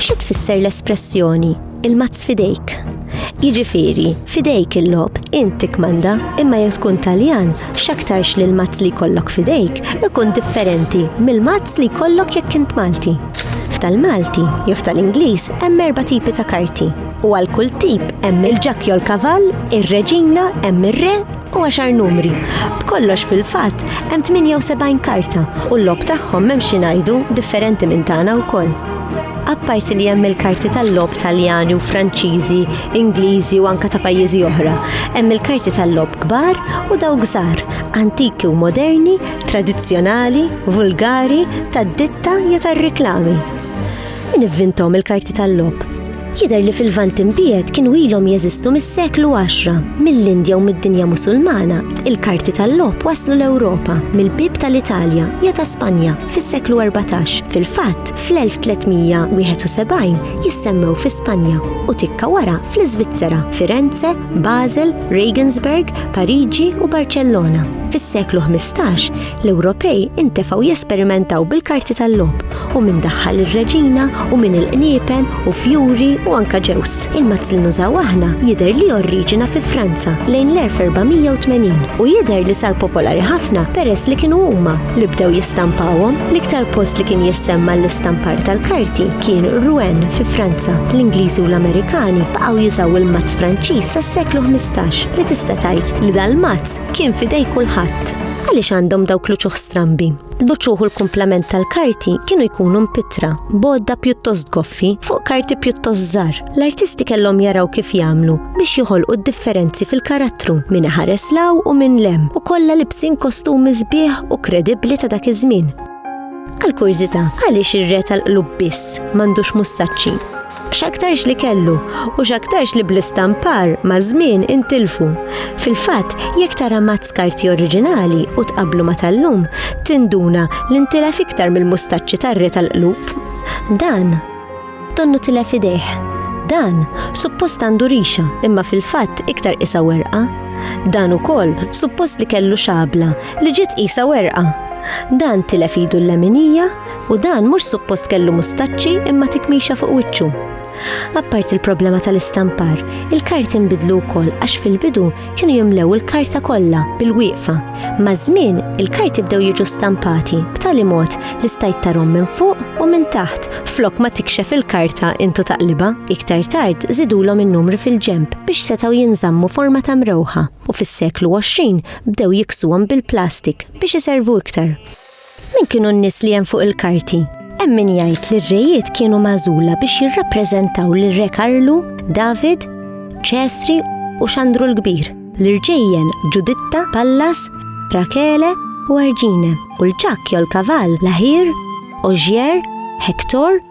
Xi tfisser l-espressjoni il-mazz fidejk? Jiġifieri, fidejk il-lob, inti kmanda, imma jekk tkun Taljan, x'aktarx li l-mazz li jkollok fidejk ikun differenti mill-mazz li jkollok jekk int Malti. F'tal-Malti jew f'tal-Ingliż hemm erba' tipi ta' karti u għal kull tip hemm il-ġakjol kavall, ir-reġina, hemm ir-re, u għaxar numri. B'kollox fil-fatt hemm 78 karta u l-logħob tagħhom m'hemm xi ngħidu differenti minn tagħna wkoll. Apparti li hemm il-karti tal-logħob Taljani u Franċiżi, Ingliżi u anke ta' pajjiżi oħra, hemm il-karti tal-logħob kbar u dawk żgħar, antiki u moderni, tradizzjonali, vulgari, tad-ditta jew tar-riklami. Min ivvinthom il-karti tal-logħob? Jidher li fil-Lvant Imbiegħed kienu ilhom jeżistu mis-seklu 10. Mill-Indja u mid-dinja Musulmana, il-karti tal-logħob waslu l-Ewropa mill-bieb tal-Italja jew ta' Spanja fis-seklu 14. Fil-fatt, fl-1371 jissemmew fi Spanja u tikka wara fl-Iżvizzera, Firenze, Basel, Regensburg, Pariġi u Barċellona. Fis-seklu 15 L-Ewropej intefgħu jesperimentaw bil-karti tal-logħob u minn daħħal ir-reġina u minn il-qniepen u fjuri u anka ġews. Il-mazz li nużaw aħna jidher li orriġina fi Franza lejn l-1480 u jidher li sar popolari ħafna peress li kienu huma li bdew jistampawhom l-iktar post li kien jissemma l-istampar tal-karti kien Rouen fi Franza. L-Ingliżi u l-Amerikani baqgħu jużaw il-mazz Franċiż sas-seklu 15 li tista' tgħid li dal-mazz kien fidej kulħadd. Għaliex għandhom dawk l-uċuħ strambi? L-uċuħ u l-kumplament tal-karti kienu jkunu mpitra, bodda pjuttost goffi fuq karti pjuttost żar. L-artisti kellhom jaraw kif jagħmlu biex joħolqu d-differenzi fil-karattru minn ħares law u minn lem u kollha libsin kostumi sbieħ u kredibbli ta' dak iż-żmien. Għal kurżità, għaliex ir-re tal-qlub biss m'għandux mustaċċi? x'aktarx li kellu u x'aktarx li bl-istampar ma' żmien intilfu. Fil-fatt, jekk tara mazz karti oriġinali u tqablu ma' tal-lum, tinduna li ntilef iktar mill-mustaċċi tar-re tal-qlub. Dan Tonnu tilef idejh. Dan suppost għandu rixa, imma fil-fatt iktar qisha werqa. Dan ukoll suppost li kellu xabla li ġiet qisha werqa. Dan tilef idu l-leminija u dan mhux suppost kellu mustaċċi imma tikmixa fuq wiċċu. Apparti l-problema tal-istampar, il-karti nbidlu wkoll għax fil-bidu kienu jimlew il-karta kollha bil-wieqfa. Maż-żmien, il-karti bdew jiġu stampati b'tali mod li stajt tarhom minn fuq u minn taħt flok ma tikxef il-karta intu taqliba. Iktar tard żidulhom in-numri fil-ġemp biex setgħu jinżammu forma ta' mrewħa u fis-seklu 20 bdew jiksuhom bil-plastik biex iservu iktar. Min kienu n-nies li hemm fuq il-karti? Hemm min jgħid li r-rejiet kienu magħżula biex jirrappreżentaw lil Re Karlu, David, Ċesri u Xandru l-Kbir, l-irġejjen Ġuditta, Pallas, Rakele u Arġine, u l-ġakk jew l-kavall l-Aħir, Oġier, Hektor,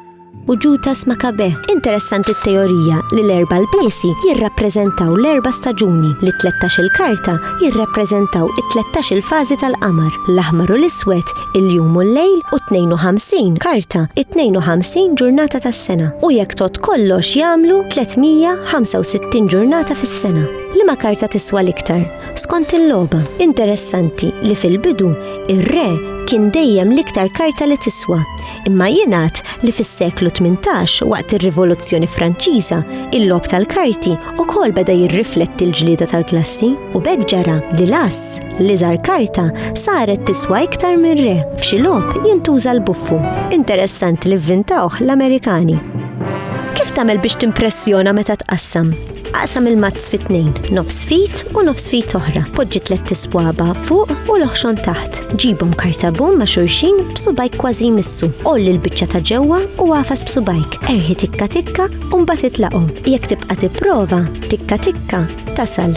u Ġutas Makabe. Interessanti t-teorija li l-erba' lbiesi jirrappreżentaw l-erba' staġuni, li t-tlettax il-karta jirrappreżentaw it-tlettax il-fażi tal-qamar, l-aħmar u l-iswed, il-jum u l-lejl, u t-52 karta, it-52 ġurnata tas-sena, u jekk tgħodd kollox jagħmlu 365 ġurnata fis-sena. Liema karta tiswa l-iktar? Skont il-logħba, interessanti li fil-bidu ir-re kien dejjem l-iktar karta li tiswa, Imma jingħad li fis-seklu 18 waqt ir-Rivoluzzjoni Franċiża, il-logħob tal-karti ukoll beda jirrifletti l-ġlieda tal-klassi u b'hekk ġara li l-ass, l-iżgħar karta, saret tiswa iktar minn re. F'xi logħob jintuża l-buffu. Interessanti li vvintawh l-Amerikani. Kif tagħmel biex timpressjona meta tqassam? Aqsam il-mazz fit tnejn nofs fit u nofs fit oħra. Poġġi tlet tiswaba fuq u l-oħxon taħt. Ġibhom kartabum ma' xurxin b'subajk kważi jmissu. Olli l-biċċa ta' ġewwa u għafas b'subajk. Erħi tikka tikka u mbagħad itlaqhom. Jekk tibqa' tipprova, tikka tikka tasal.